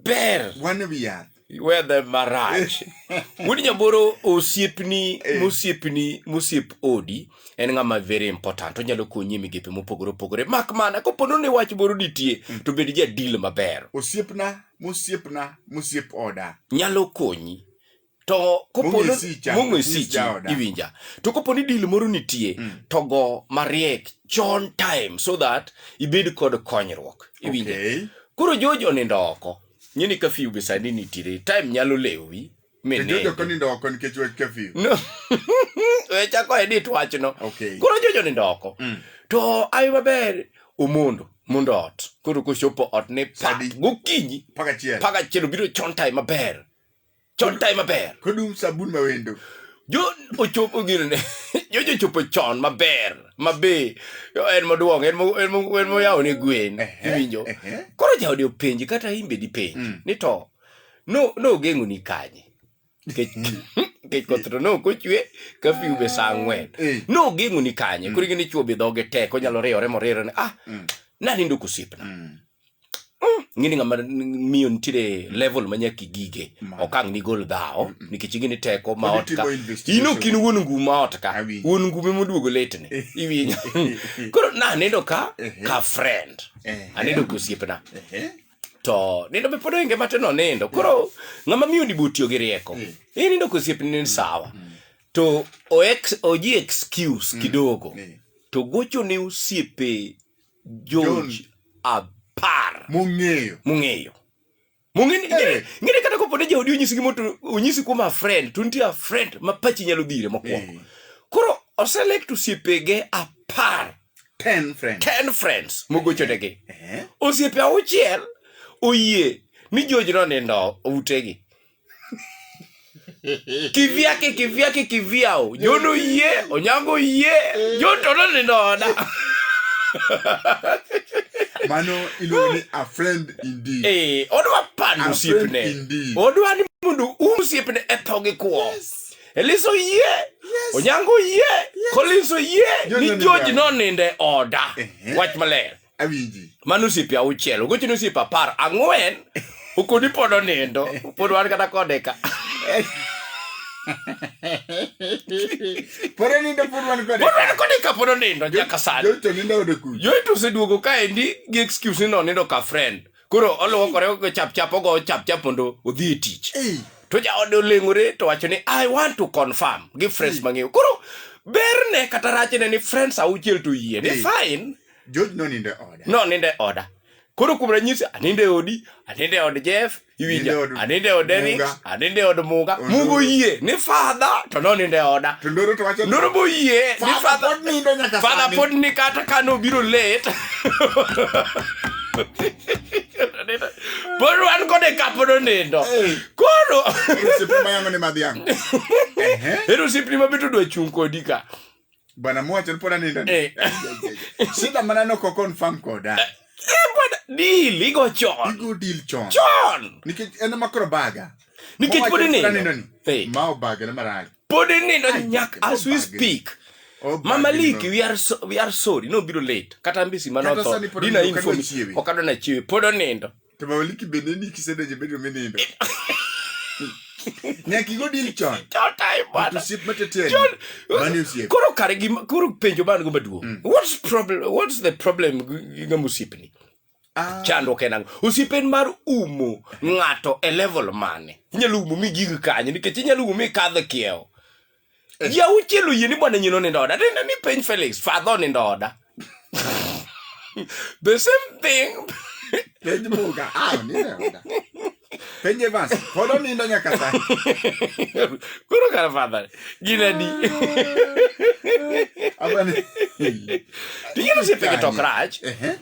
ber wan wi yath wedhe marach wuod nyaboro osiepni Eh. mosiepni mosiep odi en ng'ama very important onyalo konyi e migepe mopogore opogore mak mana kopono ni wach moro nitie to bed jadil maber osiepna mosiepna mosiep oda nyalo konyi to koponi mong'o e sichi iwinja to koponi dil moro nitie mm. to go mariek chon time so that ibed kod konyruok iwinja okay. koro jojo onindo oko nyini kafiu gi sani nitire time nyalo lewi wechako edit wachno koro jojo nindo oko mm. to ai maber omondo mondo ot koro kochopo ot ni gokinyi paka chielo biro chon time maber chon tayo maber kodum sabun ma wendo jo ochopo gino ne jo jochopo chon maber mabe yo en moduong en mo- en mo- en moyawo ne gwen Ehe, iwinjo ehe. koro jaode openji kata imbe dipenji Mm. ni to no- nogeng'oni kanye Nikech- nikech koth to ne ok ochwe kafiu be sa ang'wen Eh. nogeng'oni kanye koro ing'e ni chwo be dhoge tek onyalo riyore moriro ni ah Mm. nanindo kosiepna Mm. ing'e ni ng'ama n- miyo nitiere level ma nyaka igige Ma. okang' nigol dhawo nikech ing'e ni teko ma Pod ot ka itimo investigation. in ok in wuon ngum ma ot ka Awinjo. wuon ngume moduogo letne iwinjo koro nanindo ka Ehe. ka friend Ehe. anindo ka osiepna Ehe. to nindo be pod oinge mate nonindo koro ng'ama miyo ni botiyo gi rieko Mm. inindo ka osiepni ni sawa to o ex- oji excuse kidogo Mm. to gocho ne osiepe George apar mong'eyo mong'eyo mong'eni hey. ng'eni kata kopo ne jaodi onyisi gimo to onyisi kuom a friend to nitie a friend ma pachi nyalo dhire mokwongo hey. koro oselect osiepege apar ten friends, ten friends mogochonegi hey. osiepe auchiel oyie ni George no nindo utegi kivyake kivyake kivyao nyono yie onyango yie nyotono ninona mano iluongo ni a friend indeed eh odwa pando osiepne odwa ni mondo um osiepne e tho gi kwo eliso yie onyango yie koliso yie ni joji noninde oda wach maler awinji mano osiepe auchiel ogocho ni osiepe apar ang'wen okoni pod onindo pod wan kata kode ka pod onindo pod wan kode pod wan kode ka pod onindo nyaka sani joto nindo oyudo kuyo joito oseduogo kaendi gi excuse ni nonindo ka friend koro oluokore ogo chap chap ogo chap chap mondo odhi e tich Ei, to jaode oleng'ore to wacho ni i want to confirm gi friends mang'eyo koro berne kata rachne ni friends auchiel to yie ni Eh. fine George nonindo e oda. No nindo e oda. Koro kuom ranyisi anindo e odi, anindo e od Jeff, iwinja, Nindo e od anindo e od Eric, Muga. anindo e od Muga. Od Mugo Muga. yie ni fadha to nonindo e oda. To ndoro to wacho ni, Ndoro bo yie ni Father fadha pod nindo nyaka fadha sani. pod ni kata ka nobiro late. Pod wan kode ka pod onindo. Hey. Koro Osiepe ma yango ni madhiang'. Ehe. ero osiepni ma be to dwa chung' kodi ka. Bwana mwacho pona nindo. Eh. Shida mana no ko confirm koda. Eh, eh bwana deal igo chon. Igo deal chon. Chon. Nikech en makro baga. Nikech podi ni. Hey. Mao baga na marach. Podi ni no nyak as we speak. Oh, Mama Liki, we are so, we are sorry. No biro late. Kata mbisi manoto. Dina inform. Okado na chiwe. Podo nindo. to mawaliki bende ni kisedonjo bedroom inindo nyaka igo deal chon Totai But bwana. osiep mateteni John, mani osiep Koro kare gima koro penjo man go maduong'. Mm. What's problem what's the problem gi ng'ama osiepni? Ah, Chandruok en ang'o? Osiep en mar umo ng'ato e level mane? Inyalo umo mi gig kanye nikech inyalo umo mi kadh kiewo. Eh. ya uchiel oyie ni bwana nyino nindo oda tinde ni piny felix fadho nindo oda the same thing Penj Muga, ah, nine oda. Penj Evans, pod onindo nyaka sani. koro kar fadha gin adi Abani. ting'e ni osiepe gi tok rach Ehe.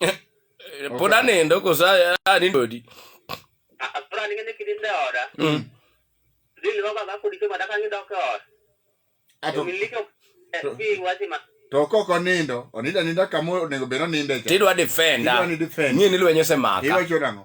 Eh, pod anindo koso anindo odi to ok ok onindo onindo aninda kama onego bed oninde cha tidwa defenda Idwa ni defend. nie ni lweny osemaka iwacho nang'o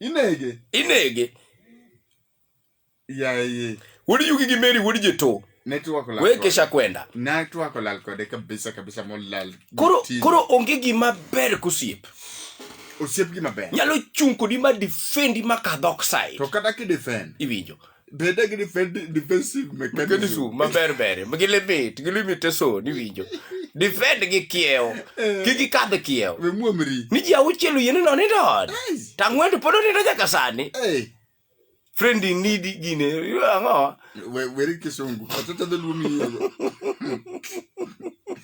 inege inege yaye wuod yugi gi meri wuod jito wekesha kwenda koro onge gima ber kosiep osiep gima ber nyalo chung kodi ma defendi ma kadhok sai to kata kidefend iwinjo Bende gi defend- defensive mechanism. mechanism maber ber gi limit gi limitation iwinjo defend gi kiewo kik ikadh kiewo We muomri. ni ji auchiel oyiene no nindo ot Yes. tang'wendo pod onindo nyaka sani Hey. friend in need gine ang'o We weri kisungu. Atata dholuo miyiego.